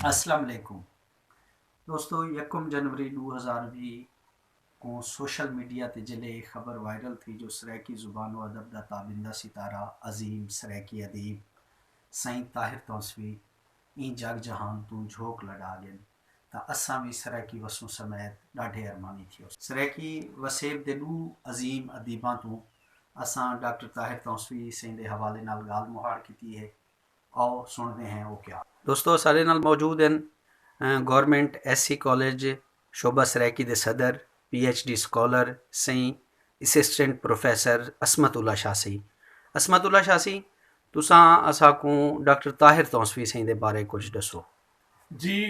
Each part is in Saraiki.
اسلام علیکم دوستو یکم جنوری ڈو ہزار وی کوں سوشل میڈیا تے جلے اے خبر وائرل تھی جو سرائیکی زبان و ادب دا تابندہ ستارہ عظیم سرائیکی ادیب سئیں طاہر تونسوی ایں جگ جہان توں جھوک لڈا گن۔ تاں اساں وی سرائیکی وسوں سمیت ݙاڈھے ارمانی تھیوسوں۔ سرائیکی وسیب دے ݙو عظیم ادیباں توں اساں ڈاکٹر طاہر تونسوی سئیں دے حوالے نال ڳالھ مہاڑ کیتی ہے آؤ سݨدے ہیں او کیا۔ دوستو اساݙے نال موجود ہن گورنمنٹ ایس سی کالج شعبہ سرائیکی دے صدر پی ایچ ڈی سکالر سئیں اسسٹنٹ پروفیسر عصمت اللہ شاہ سئیں عصمت اللہ شاہ سئیں تساں اساکوں ڈاکٹر طاہر تونسوی سئیں دے بارے کجھ ݙسو۔ جی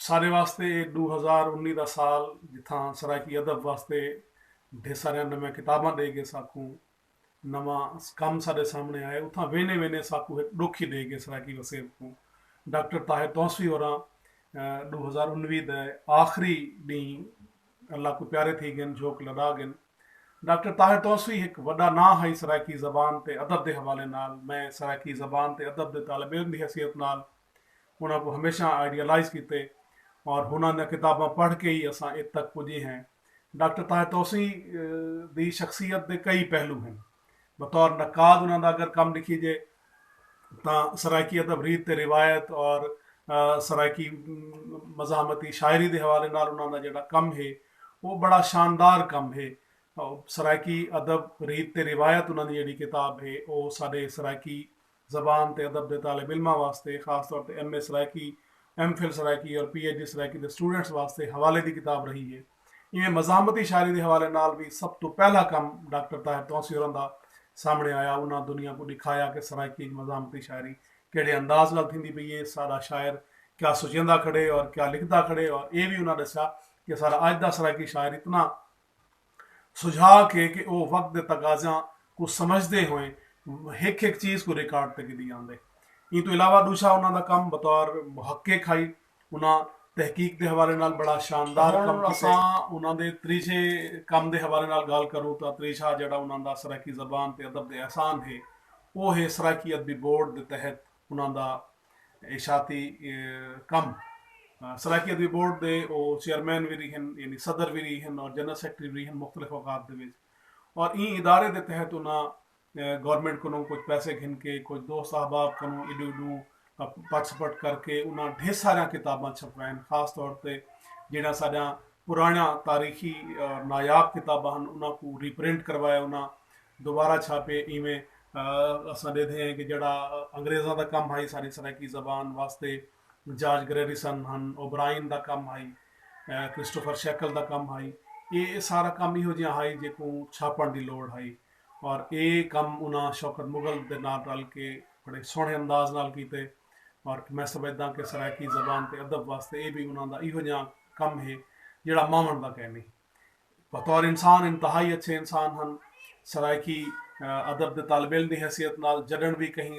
سارے واسطے اے ڈو ہزار انی دا سال جتھاں سرائیکی ادب واسطے ڈھیر ساریاں نویاں کتاباں ڈے گے ساکوں نواں کم ساڈے سامنے آئے اتھاں وینے وینے ساکوں ہک ڈکھ ہی ڈے گے سرائیکی وسیب کوں ڈاکٹر طاہر تونسوی ہوراں ڈو ہزار انوی دے آخری ڈینہہ اللہ کوں پیارے تھی گن جھوک لڈا گن ڈاکٹر طاہر توسوی ہک وڈا ناں ہئی سرائیکی زبان تے ادب دے حوالے نال، میں سرائیکی زبان تے ادب دے طالب علم دی حیثیت نال انہاں کوں ہمیشاں آئیڈیالائز کیتے اور ہناں دیاں کتاباں پڑھ کے ای اساں ات تک پجے ہیں۔ ڈاکٹر طاہر توسوی دی شخصیت دے کئی پہلو ہن۔ بطور نقاد انہاں دا اگر کم ݙکھیجے تاں سرائیکی ادب ریت تے روایت اور سرائیکی مزاحمتی شاعری دے حوالے نال انہاں دا جیڑھا کم ہے او بڑا شاندار کم ہے۔ سرائیکی ادب ریت تے روایت انہاں دی جیڑھی کتاب ہے او ساݙے سرائیکی زبان تے ادب دے طالب علماں واسطے خاص طور تے M A Saraiki, M Phil Saraiki اور پی ایچ ڈی سرائیکی دے سٹوڈنٹس واسطے حوالے دی کتاب رہی ہے۔ ایویں مزاحمتی شاعری دے حوالے نال وی سب توں پہلا کم ڈاکٹر طاہر تونسی ہوراں دا سامݨے آیا۔ انہاں دنیا کوں ݙکھایا کہ سرائیکی اچ مزاحمتی شاعری کیڑھے انداز نال تھیندی پئی ہے، ساݙا شاعر کیا سوچیندا کھڑے اور کیا لکھدا کھڑے اور ایہ وی انہاں ݙسیا کہ ساݙا اڄ دا سرائیکی شاعر اتنا سجھا کے کہ او وقت دے تقاضیاں کوں سمجھدے ہوئیں ہک ہک چیز کوں ریکارڈ تے گھدی آندے۔ ایں توں علاوہ ݙوجھا انہاں دا کم بطور محقق ہئی۔ انہاں تحقیق دے حوالے نال بڑا شاندار کم کیتے۔ ہݨ اساں انہاں دے تریجھے کم دے حوالے نال ڳالھ کروں تاں تریجھا جیڑھا انہاں دا سرائیکی زبان تے ادب دے احسان ہے او ہے سرائیکی ادبی بورڈ دے تحت انہاں دا اشاعتی کم سرائیکی ادبی بورڈ دے او چیئرمین وی رہے ہن یعنی صدر وی رہے ہن اور جنرل سیکرٹری وی رہے ہن مختلف اوقات دے وچ اور ایں ادارے دے تحت انہاں گورنمنٹ کنوں کچھ پیسے گھن کے کچھ دوست احباب کنوں ایڈو ایڈو پٹ سپٹ کر کے انہاں ڈھیر ساریاں کتاباں چھپوائن خاص طور تے جیڑھیاں ساڈیاں پرانیاں تاریخی اور نایاب کتاباں ہن انہاں کوں ری پرنٹ کروایا انہاں دوبارہ چھاپے ایویں اساں ڈیدھے ہیں کہ جیڑھا انگریزاں دا کم ہئی ساری سرائیکی زبان واسطے جارج گریریسن ہن اوبرائن دا کم ہئی کرسٹوفر شیکل دا کم ہئی اے سارا کم ایہو جیہاں ہئی جیکوں چھاپن دی لوڑ ہئی اور اے کم انہاں شوکت مغل دے نال رل کے بڑے سوہنے انداز نال کیتے اور میں سمجھداں کہ سرائیکی زبان تے ادب واسطے اے وی انہاں دا ایہو جیہاں کم ہے جیڑھا ماون دا کینی۔ بطور انسان انتہائی اچھے انسان ہن۔ سرائیکی ادب دے طالب علم دی حیثیت نال جڈݨ وی کہیں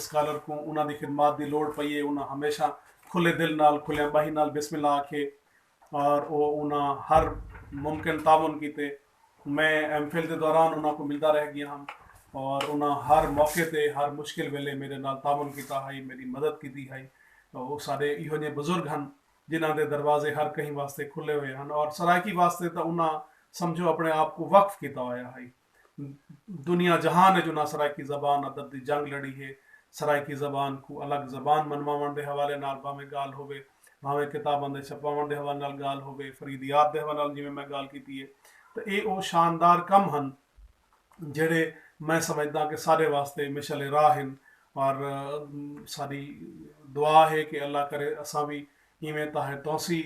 سکالر کوں انہاں دی خدمات دی لوڑ پئی اے انہاں ہمیشہ کھلے دل نال کھلیاں ٻاہیں نال بسم اللہ آکھیے اور او انہاں ہر ممکن تعاون کیتے۔ میں ایم فل دے دوران انہاں کوں ملدا رہ گیاں ہم اور انہاں ہر موقع تے ہر مشکل ویلے میڈے نال تعاون کیتا ہئی میڈی مدد کیتی ہئی۔ او ساڈے ایہو جہیں بزرگ ہن۔ جنہاں دے دروازے ہر کہیں واسطے کھلے ہوئے ہن اور سرائیکی واسطے تاں انہاں سمجھو اپنے آپ کوں وقف کیتا ہویا ہئی۔ دنیا جہان اچ انہاں سرائیکی زبان ادب دی جنگ لڑی ہے۔ سرائیکی زبان کوں الگ زبان منواوݨ دے حوالے نال بھانویں ڳالھ ہووے، بھانویں کتاباں دے چھپواوݨ دے حوالے نال ڳالھ ہووے، فریدیات دے حوالے نال جیویں میں ڳالھ کیتی ہے تاں ایہ او شاندار کم ہن، جیڑھے میں سمجھداں کہ ساڈے واسطے مشعل راہ ہن اور ساڈی دعا ہے کہ اللہ کرے اساں وی ایویں طاہر تونسی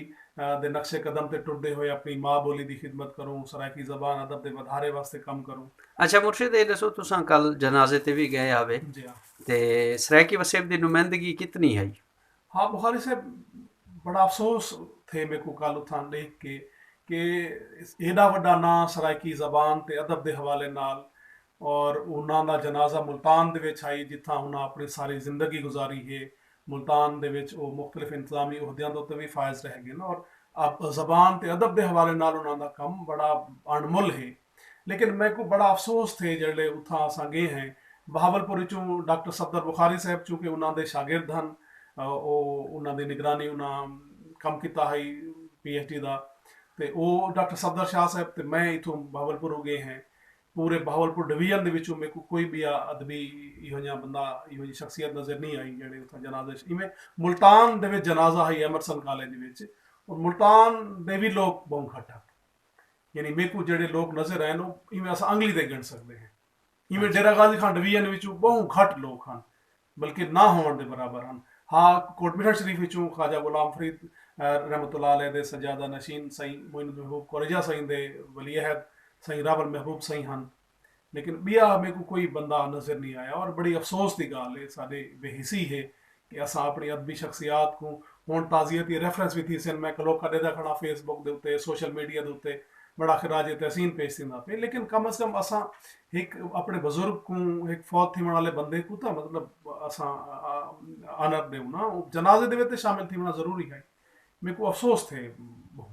دے نقش قدم تے ٹردے ہوئے اپنی ماء بولی دی خدمت کروں، سرائیکی زبان ادب دے ودھارے واسطے کم کروں۔ اچھا مرشد اے ڈسو تساں کل جنازے تے وی گئے ہاوے تے سرائیکی وسیب دی نمائندگی کتنی ہئی؟ ہاں بخاری صاحب بڑا افسوس تھے میکوں کل اتھاں ڈیکھ کے کہ ایڈا وڈا ناں سرائیکی زبان تے ادب دے حوالے نال اور انہاں دا جنازہ ملتان دے وچ ہئی جتھاں انہاں اپݨی ساری زندگی گزاری ہے ملتان دے وچ او مختلف انتظامی عہدیاں دے اتے وی فائز رہ گن اور زبان تے ادب دے حوالے نال انہاں دا کم بڑا اݨ مل ہے۔ لیکن میکوں بڑا افسوس تھئے جیڑھلے اتھاں اساں گئے ہیں بہاولپور اچوں ڈاکٹر صفدر بخاری صاحب چونکہ انہاں دے شاگرد ہن او انہاں دی نگرانی انہاں کم کیتا ہئی پی ایچ ڈی دا تے او ڈاکٹر صفدر شاہ صاحب تے میں اتھوں بہاولپوروں گئے ہیں پورے بہاولپور ڈویژن دے وچوں میکوں کوئی بیا ادبی ایہو جیاں بندہ ایہو جی شخصیت نظر نی آئی جیڑھے اتھاں جنازے اچ ایویں ملتان دے وچ جنازہ ہئی ایمرسن کالج وچ ملتان دے وی لوک بہوں گھٹ ہن۔ یعنی میکوں جیڑھے لوک نظر آئن او ایویں اساں انگلی دے گن سکدے ہیں ایویں ڈیرہ غازی خان ڈویژن وچوں بہوں گھٹ لوک ہن بلکہ نہ ہوون دے برابر ہن ہاں کوٹ مٹھڑ شریف وچوں خواجہ غلام فرید رحمۃ اللہ علیہ دے سجادہ نشین سائیں معین المحبوب کورجہ سائیں دے ولی عہد سائیں راول محبوب سائیں ہن لیکن بیا میکوں کوئی بندہ نظر نی آیا اور بڑی افسوس دی گال اے ساڈے بے حسی ہے کہ اساں اپنی ادبی شخصیات کوں ہن تعزیتی ریفرنس وی تھیسن میں کلوکا ڈیدا کھڑاں فیس بک دے اتے سوشل میڈیا دے اتے بڑا خراج تحسین پیش تھیندا پے لیکن کم از کم اساں ہک اپنے بزرگ کوں ہک فوت تھیون آلے بندے کوں تاں مطلب اساں آنر ڈیوناں جنازے دے وچ تے شامل تھیوناں ضروری ہائی میکوں افسوس تھے بہوں۔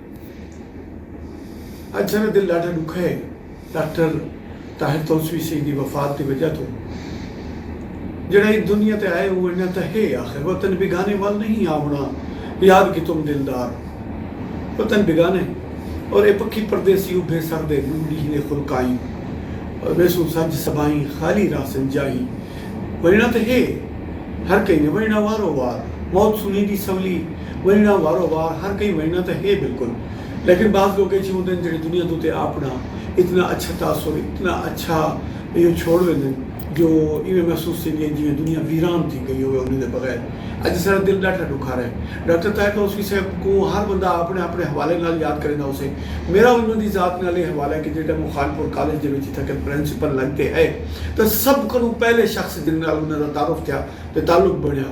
اڄ ساݙا دل ݙاڈھا ݙکھا ہے ڈاکٹر طاہر تونسوی سئیں دی وفات دی وجہ توں جیڑھا ایں دنیا تے آئے او ونڄݨ تاں ہے آخر وطن بیگانے ول نئیں آوݨا یاد کہ تم دلدار وطن بیگانے اور اے پکھی پردیسی ابھے سر دے ݙو ݙینہہ دے خلقائیں اور ویسوں سنج صبائیں خالی راہ سنجائیں ونڄݨا تاں ہے ہر کہیں دے ونڄݨا وارو وار موت سنیری سولی ونڄݨاں وارو وار ہر کہیں ونڄݨاں تاں ہے بالکل لیکن بعض لوک ایجھے ہوندن جیڑھے دنیا دو تے آپݨا اتنا اچھا تاثر اتنا اچھا ایہو چھوڑ ویندن جو ایویں محسوس تھیندی ہے جیویں دنیا ویران تھی گئی ہووے انہیں دے بغیر اڄ اساݙا دل ݙاڈھا ݙکھارا ہے ڈاکٹر طاہر توسوی صاحب کوں ہر بندہ آپݨے آپݨے حوالے نال یاد کریندہ ہوسے میݙا انہاں دی ذات نال ایہہ حوالہ ہے کہ جیڑھے ٹائم او خانپور کالج دے وچ اتھاں کن پرنسپل لڳ تے ہئے تاں سب کنوں پہلے شخص جیندے نال انہاں دا تعارف تھیا تے تعلق بݨیا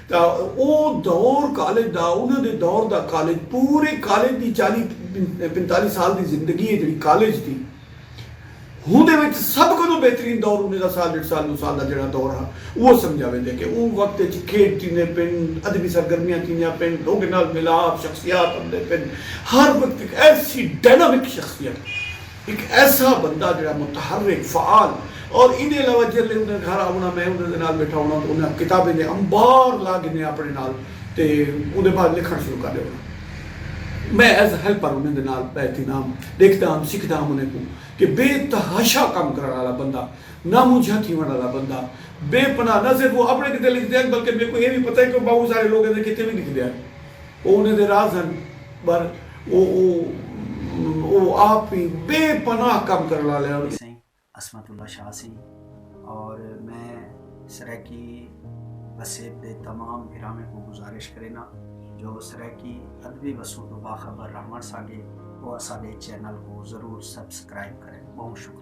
دا او دور کالج دا انہاں دے دور دا کالج پورے کالج دی چالی پنتالی سال دی زندگی ہے جیڑھی کالج دی ہوندے وچ سب کنوں بہترین دور انہاں دا سال ڈیڈھ سال دو سال دا جیڑھا دور ہا اوہ سمجھا ویندے کہ اوں وقت وچ کھیڈ تھیندے پن ادبی سرگرمیاں تھیندیاں پن لوگیں نال میلاپ شخصیات امدے پن ہر وقت ہک ایسی ڈائنامک شخصیت ہک ایسا بندہ جیڑھا متحرک، فعال اور ایندے علاوہ جیلھے اوندے گھر آونا میں اوندے دے نال بیٹھا ہونا تاں انہاں کتابیں دے انبار لا گھنے اپنے نال تے اوندے بعد لکھݨ شروع کر ݙیونا۔ میں ایز ہیلپر انہیں دے نال بیٹھی دا ہم، ݙیکھدا ہم، سکھدا ہم انہیں کوں کہ بے تحاشا کم کرݨ آلا بندہ، نا منجھا تھیوݨ آلا بندہ، بے پناہ نہ صرف او اپنے کیتے لکھدے ہن بلکہ میکوں اے وی پتہ ہے کہ او ٻہوں سارے لوکاں دے کیتے وی لکھدے ہن۔ او انہیں دے راز ہن بر او او او آپ وی بے پناہ کم کرن والے ہن۔ میڈی سئیں عصمت اللہ شاہ سی اور میں سرائیکی وسیب دے تمام بھراویں کوں گزارش کرینا جو سرائیکی ادبی وسوں توں باخبر رہون سانگے او اساڈے چینل کوں ضرور سبسکرائب کرن بہوں شکریہ۔